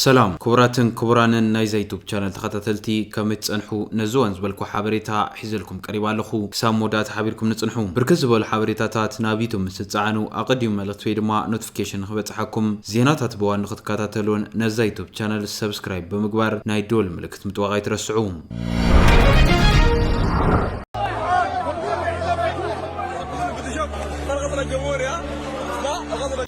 ሰላም ክቡራትን ክቡራንን ናይዛ ዩቱብ ቻነል ተኸታተልቲ ከመይ ትፀንሑ ነዚ ዋን ዝበልኩ ሓበሬታ ሒዘልኩም ቀሪባ ኣለኹ ክሳብ መወዳእታ ሓቢርኩም ንፅንሑ ብርክት ዝበሉ ሓበሬታታት ናብ ዩቱብ ምስ ትፀዓኑ ኣቐዲሙ መልእኽቲ ወይ ድማ ኖቲፊኬሽን ንክበፅሓኩም ዜናታት ብዋን ንክትከታተሉን ነዛ ዩቱብ ቻነል ሰብስክራይብ ብምግባር ናይ ደወል ምልክት ምጥዋቕ ኣይትረስዑ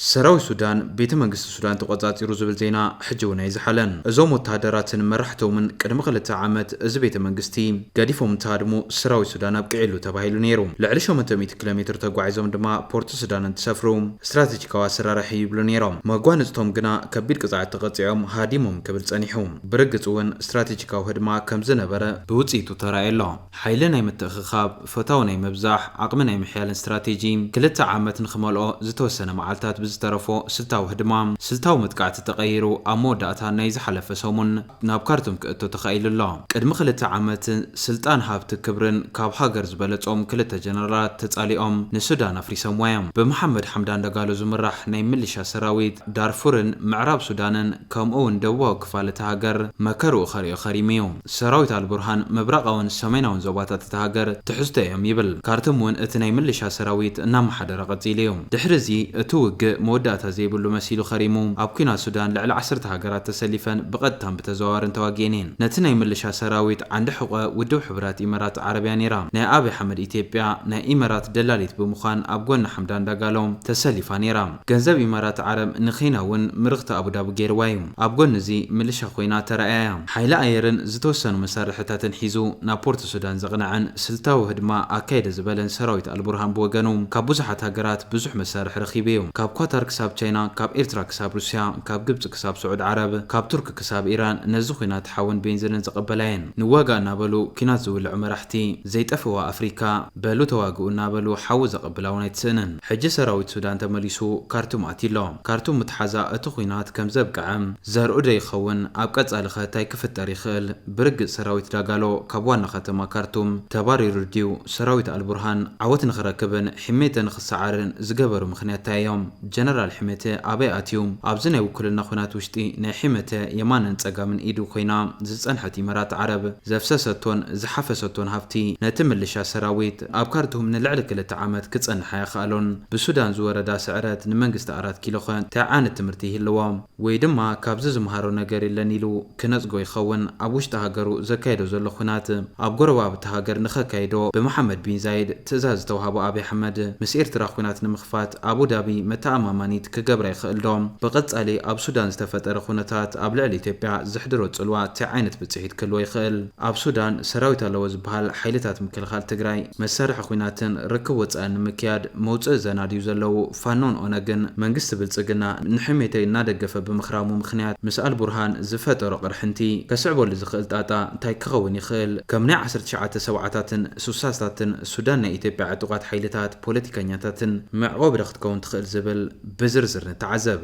ሰራዊት ሱዳን ቤተ መንግስቲ ሱዳን ተቖጻጺሩ ዝብል ዜና ሕጂ እውን ኣይዝሓለን። እዞም ወተሃደራትን መራሕቶምን ቅድሚ ክልተ ዓመት እዚ ቤተ መንግስቲ ገዲፎም እንትሃድሙ ሰራዊት ሱዳን ኣብቂዕሉ ተባሂሉ ነይሩ። ልዕሊ ሸሞንተ ሚእቲ ኪሎ ሜትር ተጓዒዞም ድማ ፖርት ሱዳን እንትሰፍሩ ስትራተጂካዊ ኣሰራርሕ እዩ ይብሉ ነይሮም። መጓንጽቶም ግና ከቢድ ቅጽዓት ተቐጺዖም ሃዲሞም ክብል ጸኒሑ። ብርግጽ እውን ስትራቴጂካዊ ህድማ ከም ዝነበረ ብውጽኢቱ ተራእዩ ኣሎ። ሓይሊ ናይ ምትእኽኻብ፣ ፈታዊ ናይ ምብዛሕ፣ ዓቕሚ ናይ ምሕያልን ስትራቴጂ፣ ክልተ ዓመት ንኽመልኦ ዝተወሰነ መዓልታት ብዝተረፎ ስልታዊ ህድማ፣ ስልታዊ መጥቃዕቲ ተቐይሩ ኣብ መወዳእታ ናይ ዝሓለፈ ሰሙን ናብ ካርቱም ክእቶ ተኻኢሉ ኣሎ። ቅድሚ ክልተ ዓመት ስልጣን ሃብቲ ክብርን ካብ ሃገር ዝበለጾም ክልተ ጀነራላት ተጻሊኦም ንሱዳን ኣፍሪሰምዋ እዮም። ብመሓመድ ሓምዳን ዳጋሎ ዝምራሕ ናይ ምልሻ ሰራዊት ዳርፉርን ምዕራብ ሱዳንን፣ ከምኡ'ውን ደቡባዊ ክፋል እታ ሃገር መከርኡ ከርእዮ ከሪሙ'ዩ። ሰራዊት ኣልቡርሃን ምብራቓውን ሰሜናውን ዞባታት እታ ሃገር ትሕዝቶ እዮም ይብል። ካርቱም'ውን እቲ ናይ ምልሻ ሰራዊት እናመሓደረ ቀጺሉ'ዩ። ድሕሪ'ዚ እቲ ውግእ መወዳእታ ዘይብሉ መሲሉ ከሪሙ። ኣብ ኲናት ሱዳን ልዕሊ ዓሰርተ ሃገራት ተሰሊፈን ብቐጥታን ብተዘዋዋርን ተዋጊኤን'የን። ነቲ ናይ ምልሻ ሰራዊት ዓንዲ ሕቖ ውድብ ሕቡራት ኢመራት ዓረብ'ያ ነይራ። ናይ ኣብይ ኣሕመድ ኢትዮጵያ ናይ ኢመራት ደላሊት ብምዃን ኣብ ጎኒ ሓምዳን ዳጋሎ ተሰሊፋ ነይራ። ገንዘብ ኢማራት ዓረብ ንኬንያ እውን ምርኽቲ ኣቡዳቢ ገይርዋ እዩ። ኣብ ጎኒ እዚ ምልሻ ኮይና ተራእያ እያ። ሓይሊ ኣየርን ዝተወሰኑ መሳርሕታትን ሒዙ ናብ ፖርት ሱዳን ዘቕነዐን ስልታዊ ህድማ ኣካይደ ዝበለን ሰራዊት ኣልቡርሃን ብወገኑ ካብ ብዙሓት ሃገራት ብዙሕ መሳርሒ ረኺቡ እዩ። ካብ ኳታር ክሳብ ቻይና፣ ካብ ኤርትራ ክሳብ ሩስያ፣ ካብ ግብጺ ክሳብ ስዑድ ዓረብ፣ ካብ ቱርኪ ክሳብ ኢራን ነዚ ኩናት ሓውን ቤንዝንን ዘቐበላየን ንዋጋእ እናበሉ ኩናት ዝውልዑ መራሕቲ ዘይጠፍእዋ ኣፍሪካ በሉ ተዋግኡ እናበሉ ሓዊ ዘቐብላ'ውን ኣይትስእንን። ሕጂ ሰራዊት ሱዳን ተመሊሱ ካርቱም ኣትዩ ኣሎ። ካርቱም ምትሓዛ እቲ ኹናት ከም ዘብቅዐ ዘርኡ'ዶ ይኸውን? ኣብ ቀጻሊኸ ታይ ክፍጠር ይኽእል? ብርግጽ ሰራዊት ዳጋሎ ካብ ዋና ከተማ ካርቱም ተባሪሩ ድዩ? ሰራዊት ኣልቡርሃን ዓወት ንኽረክብን ሒሜተ ንኽሰዓርን ዝገበሩ ምኽንያት ታይ እዮም? ጀነራል ሒመተ ኣበይ ኣትዩ? ኣብዚ ናይ ውክልና ኹናት ውሽጢ ናይ ሒመተ የማንን ፀጋምን ኢዱ ኮይና ዝፀንሐት ኢመራት ዓረብ ዘፍሰሰቶን ዝሓፈሰቶን ሃፍቲ ነቲ ምልሻ ሰራዊት ኣብ ካርቱም ንልዕሊ ክልተ ዓመት ክፀንሕ ኣየኽኣሎን። ብሱዳን ዝወረዳ ስዕረት ንመንግስቲ ኣራት ኪሎኸ ታይ ዓይነት ትምህርቲ ይህልዎ? ወይ ድማ ካብዚ ዝምሃሮ ነገር የለን ኢሉ ክነጽጎ ይኸውን። ኣብ ውሽጢ ሃገሩ ዘካይዶ ዘሎ ኹናት ኣብ ጎረባብቲ ሃገር ንኸካይዶ ብመሓመድ ቢን ዛይድ ትእዛዝ ዝተውሃቦ ኣብይ ኣሕመድ ምስ ኤርትራ ኹናት ንምኽፋት ኣቡዳቢ መተኣማማኒት ክገብራ ይኽእል ዶ? ብቐጻሊ ኣብ ሱዳን ዝተፈጠረ ኹነታት ኣብ ልዕሊ ኢትዮጵያ ዘሕድሮ ጽልዋ ታይ ዓይነት ብጽሒት ክህልዎ ይኽእል? ኣብ ሱዳን ሰራዊት ኣለዎ ዝብሃል ሓይልታት ምክልኻል ትግራይ መሳርሒ ኹናትን ርክብ ወጻእን ንምክያድ መውጽኢ ዘናድዩ ዘለው ፋኖን ኦነግን መንግስቲ ብልፅግና ንሕሜተይ እናደገፈ ብምኽራሙ ምኽንያት ምስ ኣልቡርሃን ዝፈጠሮ ቅርሕንቲ ከስዕበሉ ዝኽእል ጣጣ እንታይ ክኸውን ይኽእል? ከም ናይ ዓሰርተ ትሽዓተ ሰብዓታትን ሱሳታትን ሱዳን ናይ ኢትዮጵያ ዕጡቓት ሓይልታት ፖለቲከኛታትን መዕቖቢ ዶ ክትከውን ትኽእል ዝብል ብዝርዝር ንተዓዘብ።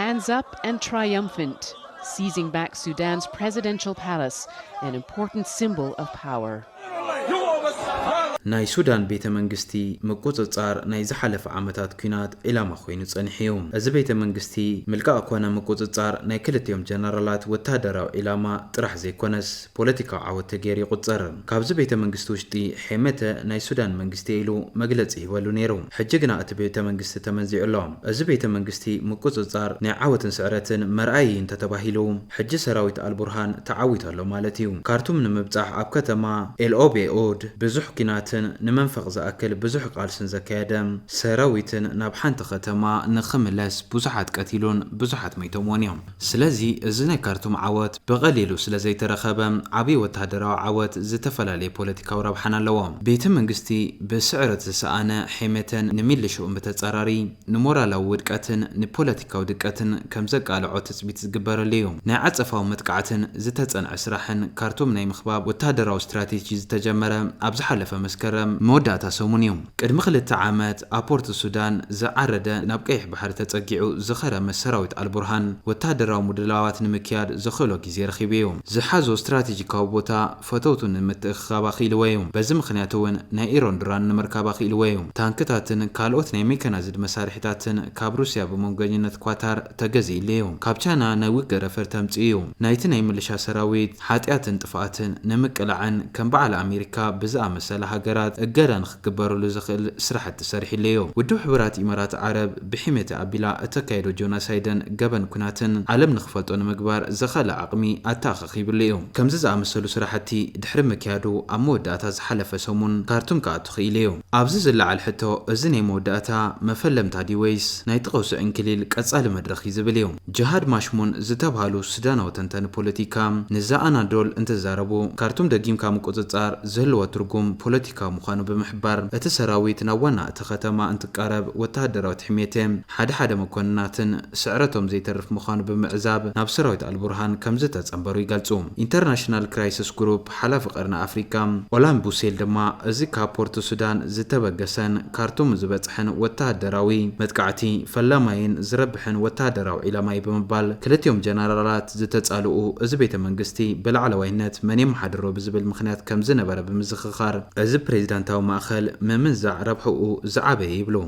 Hands up and triumphant! Seizing back Sudan's presidential palace, an important symbol of power. ናይ ሱዳን ቤተ መንግስቲ ምቁጽጻር ናይ ዝሓለፈ ዓመታት ኲናት ዒላማ ኮይኑ ጸኒሑ'ዩ። እዚ ቤተ መንግስቲ ምልቃቕ ኮነ ምቁጽጻር ናይ ክልቲኦም ጀነራላት ወተሃደራዊ ዒላማ ጥራሕ ዘይኮነስ ፖለቲካዊ ዓወት ተገይሩ ይቑጸር። ካብዚ ቤተ መንግስቲ ውሽጢ ሔመተ ናይ ሱዳን መንግስቲ'የ ኢሉ መግለጺ ሂበሉ ነይሩ። ሕጂ ግና እቲ ቤተ መንግስቲ ተመንዚዑ'ሎ። እዚ ቤተ መንግስቲ ምቁጽጻር ናይ ዓወትን ስዕረትን መርኣዪ'ዩ እንተተባሂሉ፣ ሕጂ ሰራዊት ኣልቡርሃን ተዓዊቱ ኣሎ ማለት እዩ። ካርቱም ንምብጻሕ ኣብ ከተማ ኤልኦቤኡድ ብዙሕ ኲናትን ንመንፈቕ ዝኣክል ብዙሕ ቃልስን ዘካየደ ሰራዊትን ናብ ሓንቲ ከተማ ንኽምለስ ብዙሓት ቀቲሉን ብዙሓት መይቶምዎን እዮም። ስለዚ እዚ ናይ ካርቱም ዓወት ብቐሊሉ ስለ ዘይተረኸበ ዓብይ ወተሃደራዊ ዓወት ዝተፈላለየ ፖለቲካዊ ረብሓን ኣለዎ። ቤተ መንግስቲ ብስዕረት ዝሰኣነ ሔሜተን ንሚልሽኡን ብተጻራሪ፣ ንሞራላዊ ውድቀትን ንፖለቲካዊ ድቀትን ከም ዘቃልዖ ትጽቢት ዝግበረሉ እዩ። ናይ ዓጸፋዊ መጥቃዕትን ዝተጸንዐ ስራሕን ካርቱም ናይ ምኽባብ ወተሃደራዊ ስትራቴጂ ዝተጀመረ ኣብ ዝሓለፈ መስከረም መወዳእታ ሰሙን እዩ። ቅድሚ ክልተ ዓመት ኣብ ፖርት ሱዳን ዝዓረደ ናብ ቀይሕ ባሕሪ ተጸጊዑ ዝኸረመ ሰራዊት ኣልቡርሃን ወተሃደራዊ ምድላዋት ንምክያድ ዘኽእሎ ግዜ ረኺቡ እዩ። ዝሓዞ ስትራቴጂካዊ ቦታ ፈተውቱ ንምትእኽኻብ ኣኽኢልዎ'ዩ። በዚ ምኽንያት'ውን ናይ ኢሮን ድራን ንምርካብ ኣኽኢልዎ'ዩ። ታንክታትን ካልኦት ናይ ሜካናይዝድ መሳርሒታትን ካብ ሩስያ ብመንጎኝነት ኳታር ተገዚእሉ'ዩ። ካብ ቻይና ናይ ውግእ ረፈር ተምጺኡ'ዩ። ናይቲ ናይ ምልሻ ሰራዊት ሓጥያትን ጥፍኣትን ንምቅላዕን ከም በዓል ኣሜሪካ ብዝኣመሰላ ሃገራት እገዳ ንኽግበረሉ ዘኽእል ስራሕቲ ሰሪሕሉ'ዩ። ውድብ ሕቡራት ኢማራት ዓረብ ብሕሜታ ኣቢላ እተካይዶ ጆናሳይድን ገበን ኵናትን ዓለም ንኽፈልጦ ንምግባር ዘኸእላ ዓቕሚ ኣተኣኻኺቡ። ኺብሉ እዩ። ከምዚ ዝኣመሰሉ ስራሕቲ ድሕሪ ምክያዱ ኣብ መወዳእታ ዝሓለፈ ሰሙን ካርቱም ክኣቱ ክኢሉ እዩ። ኣብዚ ዝለዓል ሕቶ እዚ ናይ መወዳእታ መፈለምታ ድዩ ወይስ ናይቲ ቀውሲ ዕንክሊል ቀጻሊ መድረኽ እዩ ዝብል እዩ። ጅሃድ ማሽሙን ዝተብሃሉ ሱዳናዊ ተንታኒ ፖለቲካ ንዘኣናዶል እንትዛረቡ ካርቱም ደጊምካ ምቁጽጻር ዝህልዎ ትርጉም ፖለቲካዊ ምዃኑ ብምሕባር እቲ ሰራዊት ናብ ዋና እቲ ከተማ እንትቃረብ ወተሃደራዊ ትሕሚየተ ሓደ ሓደ መኮንናትን ስዕረቶም ዘይተርፍ ምዃኑ ብምዕዛብ ናብ ሰራዊት ኣልቡርሃን ከምዝተጸንበሩ ይገልጹ። ኢንተርናሽናል ክራይስስ ግሩፕ ሓላፊ ቀርኒ ኣፍሪቃ ኦላን ቡሴል ድማ እዚ ካብ ፖርት ሱዳን ዝተበገሰን ካርቱም ዝበጽሐን ወተሃደራዊ መጥቃዕቲ ፈላማይን ዝረብሕን ወተሃደራዊ ዒላማ'ዩ ብምባል ክልቲኦም ጀነራላት ዝተጻልኡ እዚ ቤተ መንግስቲ ብላዕለዋይነት መን የመሓድሮ ብዝብል ምኽንያት ከምዝነበረ ብምዝኽኻር እዚ ፕሬዚዳንታዊ ማእኸል ምምንዛዕ ረብሕኡ ዝዓበየ ይብሉ።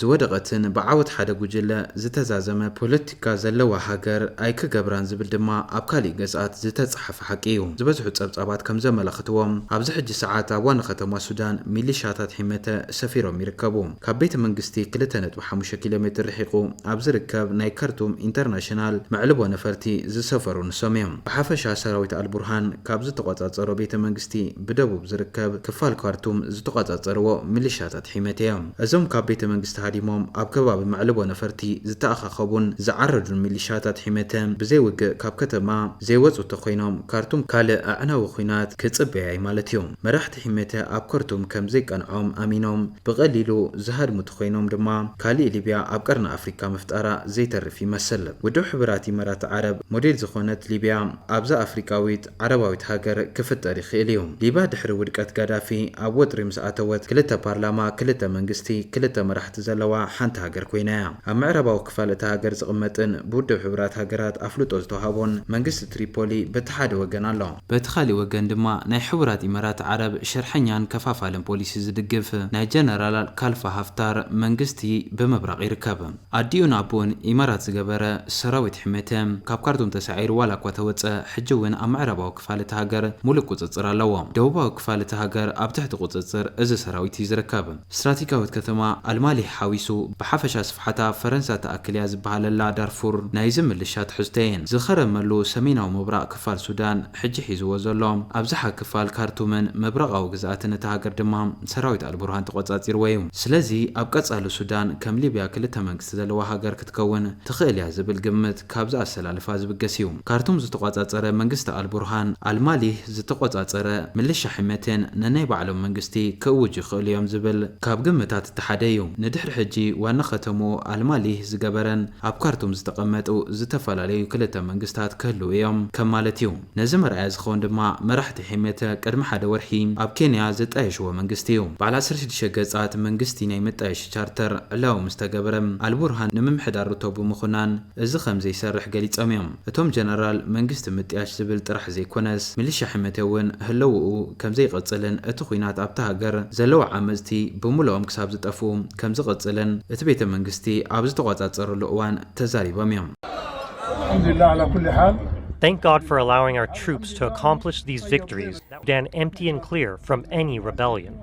ዝወደቐትን ብዓወት ሓደ ጉጅለ ዝተዛዘመ ፖለቲካ ዘለዋ ሃገር ኣይክገብራን ዝብል ድማ ኣብ ካሊእ ገጻት ዝተጻሓፈ ሓቂ እዩ። ዝበዝሑ ጸብጻባት ከም ዘመላኽትዎ ኣብዚ ሕጂ ሰዓት ኣብ ዋና ከተማ ሱዳን ሚሊሻታት ሒመተ ሰፊሮም ይርከቡ። ካብ ቤተ መንግስቲ ክልተ ነጥቢ ሓሙሽተ ኪሎ ሜትር ርሒቑ ኣብ ዝርከብ ናይ ከርቱም ኢንተርናሽናል መዕልቦ ነፈርቲ ዝሰፈሩ ንሶም እዮም። ብሓፈሻ ሰራዊት ኣልቡርሃን ካብ ዝተቖጻጸሮ ቤተ መንግስቲ ብደቡብ ዝርከብ ክፋል ካርቱም ዝተቖጻጸርዎ ሚሊሻታት ሒመቲ እዮም። እዞም ካብ ቤተ መንግስቲ ሃዲሞም ኣብ ከባቢ መዕልቦ ነፈርቲ ዝተኣኻኸቡን ዝዓረዱን ሚሊሻታት ሒመቲ ብዘይ ውግእ ካብ ከተማ ዘይወጹ ተኾይኖም ካርቱም ካልእ ኣዕናዊ ኹናት ክጽበያ እዩ ማለት እዩ። መራሕቲ ሒመቲ ኣብ ከርቱም ከም ዘይቀንዖም ኣሚኖም ብቐሊሉ ዝሃድሙ ተኾይኖም ድማ ካሊእ ሊብያ ኣብ ቀርኒ ኣፍሪቃ ምፍጣራ ዘይተርፍ ይመስል። ውድብ ሕቡራት ኢመራት ዓረብ ሞዴል ዝኾነት ሊብያ ኣብዛ ኣፍሪቃዊት ዓረባዊት ሃገር ክፍጠር ይኽእል እዩ። ሊብያ ድሕሪ ውድቀት ጋዳፊ ኣብ ወጥሪ ምስ ኣተወት፣ ክልተ ፓርላማ፣ ክልተ መንግስቲ፣ ክልተ መራሕቲ ዘለዋ ሓንቲ ሃገር ኮይና እያ። ኣብ ምዕራባዊ ክፋል እታ ሃገር ዝቕመጥን ብውድብ ሕቡራት ሃገራት ኣፍልጦ ዝተውሃቦን መንግስቲ ትሪፖሊ በቲ ሓደ ወገን ኣሎ። በቲ ካሊእ ወገን ድማ ናይ ሕቡራት ኢመራት ዓረብ ሽርሐኛን ከፋፋልን ፖሊሲ ዝድግፍ ናይ ጀነራላል ካልፋ ሃፍታር መንግስቲ ብምብራቕ ይርከብ። ኣዲኡን ኣቡኡን ኢማራት ዝገበረ ሰራዊት ሕሜቲ፣ ካብ ካርቱም ተሳዒሩ ዋላ እኳ ተወጸ፣ ሕጂ እውን ኣብ ምዕራባዊ ክፋል እታ ሃገር ሙሉእ ቁጽጽር ኣለዎ። ደቡባዊ ክፋል እታ ሃገር ኣብ ትሕቲ ቁጽጽር እዚ ሰራዊት እዩ ዝርከብ። ስትራቴጋዊት ከተማ ኣልማሊህ ሓዊሱ ብሓፈሻ ስፍሓታ ፈረንሳ ትኣክል እያ ዝበሃለላ ዳርፉር ናይዚ ምልሻ ትሕዝቶ እየን። ዝኸረመሉ ሰሜናዊ ምብራቕ ክፋል ሱዳን፣ ሕጂ ሒዝዎ ዘሎ ኣብዝሓ ክፋል ካርቱምን ምብራቓዊ ግዝኣትን እታ ሃገር ድማ ሰራዊት ኣልቡርሃን ተቖጻጺርዎ እዩ። ስለዚ ኣብ ቀጻሊ ሱዳን ከም ሊብያ ክልተ መንግስቲ ዘለዋ ሃገር ክትከውን ትኽእል እያ ዝብል ግምት ካብዚ ኣሰላልፋ ዝብገስ እዩ። ካርቱም ዝተቖጻጸረ መንግስቲ ኣልቡርሃን፣ ኣልማሊህ ዝተቖጻጸረ ምልሻ ሕመቴን ነናይ ባዕሎም መንግስቲ ክእውጁ ይኽእሉ እዮም ዝብል ካብ ግምታት እቲ ሓደ እዩ። ንድሕሪ ሕጂ ዋና ከተምኡ ኣልማሊህ ዝገበረን፣ ኣብ ካርቱም ዝተቐመጡ ዝተፈላለዩ ክልተ መንግስታት ክህልዉ እዮም ከም ማለት እዩ። ነዚ መርኣያ ዝኸውን ድማ መራሕቲ ሒመተ ቅድሚ ሓደ ወርሒ ኣብ ኬንያ ዘጣየሽዎ መንግስቲ እዩ። በዓል ዓሰርተ ሽዱሽተ ገጻት መንግስቲ ናይ መጣየሺ ቻርተር ዕላዊ ምስ ተገበረ፣ ኣልቡርሃን ንምምሕዳር ሩቶ ብምኹናን እዚ ከም ዘይሰርሕ ገሊጾም እዮም። እቶም ጀነራል መንግስቲ ምጥያሽ ዝብል ጥራሕ ዘይኮነስ ሚሊሻ ሒመተ እውን ህለውኡ ከም ዘይቕጽልን እቲ ኹናት ኣብታ ሃገር ዘለዉ ዓመጽቲ ብሙሉኦም ክሳብ ዝጠፍኡ ከምዝቕፅልን እቲ ቤተ መንግስቲ ኣብ ዝተቖፃፀረሉ እዋን ተዛሪቦም እዮም። ኣልሓምዱሊላህ ዓላ ኩሊ ሓል Thank God for allowing our troops to accomplish these victories, Dan empty and clear from any rebellion.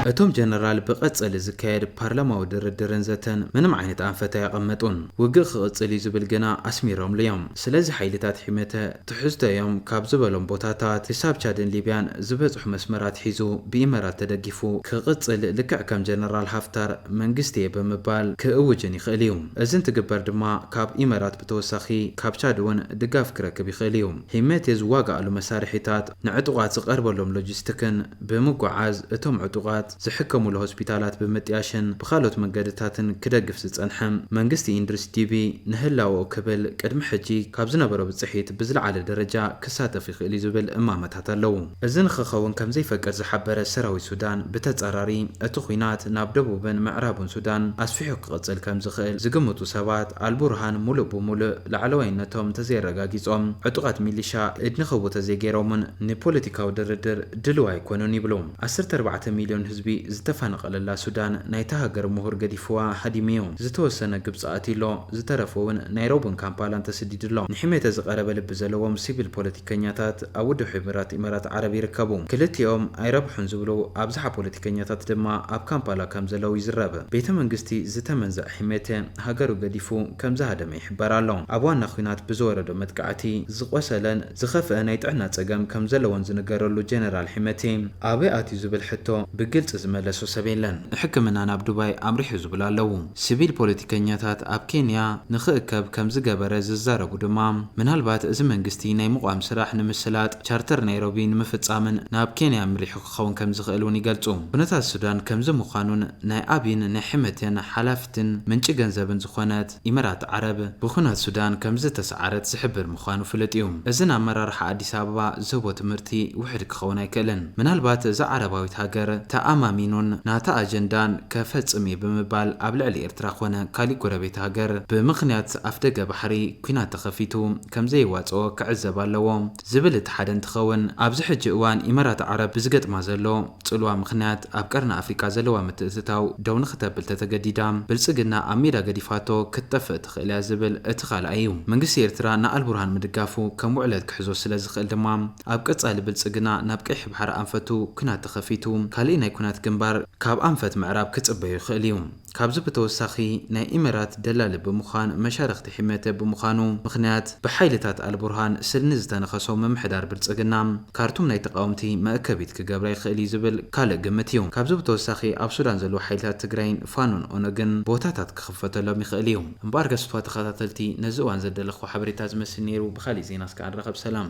እቶም ጀነራል ብቐጸሊ ዝካየድ ፓርላማዊ ድርድርን ዘተን ምንም ዓይነት ኣንፈት ኣየቐመጡን። ውግእ ክቕጽል እዩ ዝብል ግና ኣስሚሮምሉ እዮም። ስለዚ ሓይልታት ሒመተ ትሕዝቶ እዮም ካብ ዝበሎም ቦታታት ክሳብ ቻድን ሊብያን ዝበጽሑ መስመራት ሒዙ ብኢመራት ተደጊፉ ክቕጽል ልክዕ ከም ጀነራል ሃፍታር መንግስቲ'የ ብምባል ክእውጅን ይኽእል እዩ። እዚ እንትግበር ድማ ካብ ኢመራት ብተወሳኺ ካብ ቻድ እውን ድጋፍ ክረክብ ይኽእል እዩ። ሂመቴ ዝዋጋኣሉ መሳርሒታት ንዕጡቓት ዝቐርበሎም ሎጂስቲክን ብምጉዓዝ እቶም ዕጡቓት ዝሕከሙሉ ሆስፒታላት ብምጥያሽን ብኻልኦት መንገድታትን ክደግፍ ዝጸንሐ መንግስቲ ኢንድሪስ ዲቢ፣ ንህላወኡ ክብል ቅድሚ ሕጂ ካብ ዝነበሮ ብጽሒት ብዝለዓለ ደረጃ ክሳተፍ ይኽእል'ዩ ዝብል እማመታት ኣለዉ። እዚ ንኽኸውን ከም ዘይፈቅድ ዝሓበረ ሰራዊት ሱዳን፣ ብተጻራሪ እቲ ኲናት ናብ ደቡብን ምዕራብን ሱዳን ኣስፊሑ ክቕጽል ከም ዝኽእል ዝግምቱ ሰባት፣ ኣልቡርሃን ምሉእ ብምሉእ ላዕለዋይነቶም እንተዘየረጋጊጾም ዕጡቓት ሚሊሻ ኢድ ንኽቡ ተዘይገይሮምን ንፖለቲካዊ ድርድር ድሉው ኣይኮኑን ይብሉ። ዓሰርተ ኣርባዕተ ሚልዮን ህዝቢ ዝተፋነቐለላ ሱዳን ናይታ ሃገር ምሁር ገዲፍዋ ሃዲሙ'ዩ። ዝተወሰነ ግብጺ ኣትዩ'ሎ፣ ዝተረፈ'ውን ናይሮብን ካምፓላን ተሰዲዱ'ሎ። ንሕሜተ ዝቐረበ ልቢ ዘለዎም ሲቪል ፖለቲከኛታት ኣብ ውድብ ሕቡራት ኢማራት ዓረብ ይርከቡ። ክልቲኦም ኣይረብሑን ዝብሉ ኣብዝሓ ፖለቲከኛታት ድማ ኣብ ካምፓላ ከም ዘለዉ ይዝረብ። ቤተ መንግስቲ ዝተመንዘዐ ሕሜተ ሃገሩ ገዲፉ ከም ዝሃደመ ይሕበር ኣሎ። ኣብ ዋና ኲናት ብዝወረዶ መጥቃዕቲ ዝቖሰለን ዝኸፍኣ ናይ ጥዕና ጸገም ከም ዘለዎን ዝንገረሉ ጀነራል ሒመቲ፣ ኣበይ ኣትዩ ዝብል ሕቶ ብግልጺ ዝመለሶ ሰብ የለን። ንሕክምና ናብ ዱባይ ኣምሪሑ ዝብሉ ኣለዉ። ስቪል ፖለቲከኛታት ኣብ ኬንያ ንኽእከብ ከም ዝገበረ ዝዛረቡ ድማ፣ ምናልባት እዚ መንግስቲ ናይ ምቛም ስራሕ ንምስላጥ ቻርተር ናይሮቢ ንምፍጻምን ናብ ኬንያ ኣምሪሑ ክኸውን ከም ዝኽእል እውን ይገልጹ። ኩነታት ሱዳን ከምዚ ምዃኑን ናይ ኣብይን ናይ ሒመቲን ሓላፍትን ምንጪ ገንዘብን ዝኾነት፣ ኢመራት ዓረብ ብኩናት ሱዳን ከምዝተሰዓረት ዝሕብር ምዃኑ ፍሉጥ እዩ። እዚ ንኣመራርሓ ኣዲስ ኣበባ ዝህቦ ትምህርቲ ውሕድ ክኸውን ኣይክእልን። ምናልባት እዛ ዓረባዊት ሃገር ተኣማሚኑን ናታ ኣጀንዳን ከፈጽም እየ ብምባል ኣብ ልዕሊ ኤርትራ ኮነ ካሊእ ጎረቤት ሃገር ብምኽንያት ኣፍደገ ባሕሪ ኩናት ተኸፊቱ ከምዘየዋጽኦ ክዕዘብ ኣለዎ። ዝብል እቲ ሓደ እንትኸውን፣ ኣብዚ ሕጂ እዋን ኢመራት ዓረብ ብዝገጥማ ዘሎ ፅልዋ ምኽንያት ኣብ ቀርኒ ኣፍሪቃ ዘለዋ ምትእትታው ደው ንኽተብል ተተገዲዳ ብልፅግና ኣብ ሜዳ ገዲፋቶ ክትጠፍእ ትኽእል እያ ዝብል እቲ ካልኣይ እዩ። መንግስቲ ኤርትራ ንኣልቡርሃን ምድጋፉ ከም ውዕለት ክሕዞ ስለዝኽእል ድማ ኣብ ቀፃሊ ብልፅግና ናብ ቀይሕ ባሕሪ ኣንፈቱ ኲናት ተኸፊቱ ካሊእ ናይ ኲናት ግንባር ካብ ኣንፈት ምዕራብ ክፅበዮ ይኽእል እዩ። ካብዚ ብተወሳኺ ናይ ኢመራት ደላሊ ብምዃን መሻርኽቲ ሒመተ ብምዃኑ ምኽንያት ብሓይልታት ኣልቡርሃን ስልኒ ዝተነኸሶ ምምሕዳር ብልጽግና ካርቱም ናይ ተቓወምቲ መእከቢት ክገብራ ይኽእል እዩ ዝብል ካልእ ግምት እዩ። ካብዚ ብተወሳኺ ኣብ ሱዳን ዘለዉ ሓይልታት ትግራይን ፋኖን ኦነግን ቦታታት ክኽፈተሎም ይኽእል እዩ። እምበኣር ገስቷ ተኸታተልቲ ነዚ እዋን ዘደለኽዎ ሓበሬታ እዚ መስል ነይሩ ብኻሊእ ዜና እስከ ኣንራኸብ ሰላም።